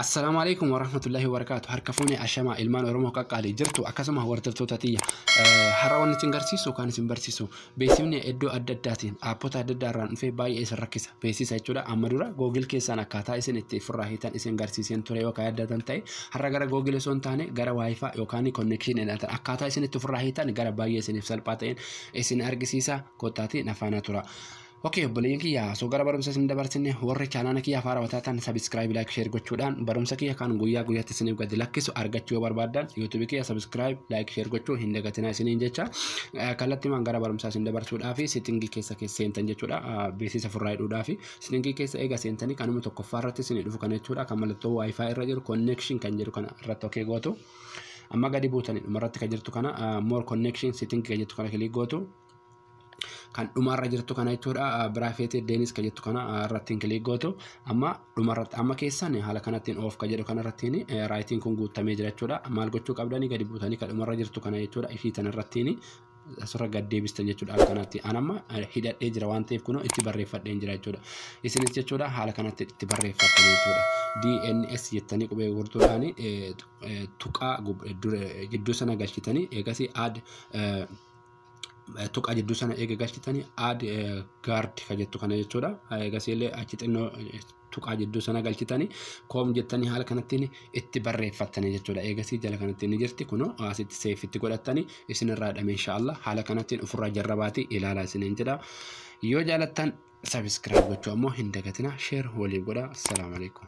Assalaamu alaikum warahmatullahi wabarakaatu harka fuune ashamaa ilmaan oromoo qaqqaalii jirtu akkasuma hordoftoota tiyya har'a wanni isin garsiisu kan isin barsiisu beeksifni iddoo adda addaatiin aappota adda addaa irraan dhufee baay'ee isin rakkisa beeksisa jechuudha amma dura googil keessaan akkaataa isin itti furraa hiitan isin garsiiseen ture yookaan yaadatan ta'e har'a gara googil osoo hin taane gara waayifaa yookaan konnekshiin hidhatan akkaataa isin itti furraa hiitan gara baay'ee isiniif salphaa ta'een isin argisiisa kottaatii nafaana tura. Ok obboleeyyan kiyya osoo gara barumsa isin dabarsine warri chaanaala kiyya afaan rawataa tan sabiskiraayib laayik sheer gochuudhaan barumsa kiyya kan guyyaa guyyaatti isiniif gadi lakkisu argachuu yoo barbaaddan yuutuubii kiyya sabiskiraayib laayik sheer gochuu hin dagatinaa isiniin jecha kallattimaan gara barumsaa isin dabarsuudhaa fi seetingii keessa keessa seentan jechuudha beeksisa furraa hidhuudhaa fi seetingii keessa eega seentanii kanuma tokkoffaa irratti isin dhufu kana jechuudha kan mallattoo waayifaa irra jiru konneekshin kan jedhu kana irratti ok gootu amma gadi buutanii dhuma irratti kan jirtu kana more connection setting kan jettu kana kilik gootu kan dhumarra jirtu kana jechuudha biraafeetii deenis kan jettu kana irrattiin kiliik gootu amma dhumarratti amma keessan haala kanattiin oof kan jedhu kanarrattiin raayitiin kun guuttamee jira jechuudha maal gochuu qabdanii gadi buutanii kan dhumarra jirtu kana jechuudha ishii tanarrattiin asirra gad deebistan jechuudha haala kanatti an amma hidhadhee jira waan ta'eef kunoo itti barreeffadheen jira jechuudha isinis jechuudha haala kanatti itti barreeffattan jechuudha DNS jettanii qubee gurtuudhaan tuqaa gidduu sana galchitanii eegasii aad tuqaa jidduu sana eega galchitanii aad gaard ka jettu kana jechuudha. Eegasiillee achi xinnoo tuqaa jidduu sana galchitanii koom jettanii haala kanattiin itti barreeffattanii jechuudha. Eegasii jala kanatti ni jirti kunoo asitti seefitti godhattanii isinirraa dhame inshaallah haala kanattiin ofirraa jarrabaatii ilaalaa isiniin jedha. Yoo jaalattan sabiskiraayib gochuu ammoo hin dagatina sheer waliif godha. Assalaamu alaikum.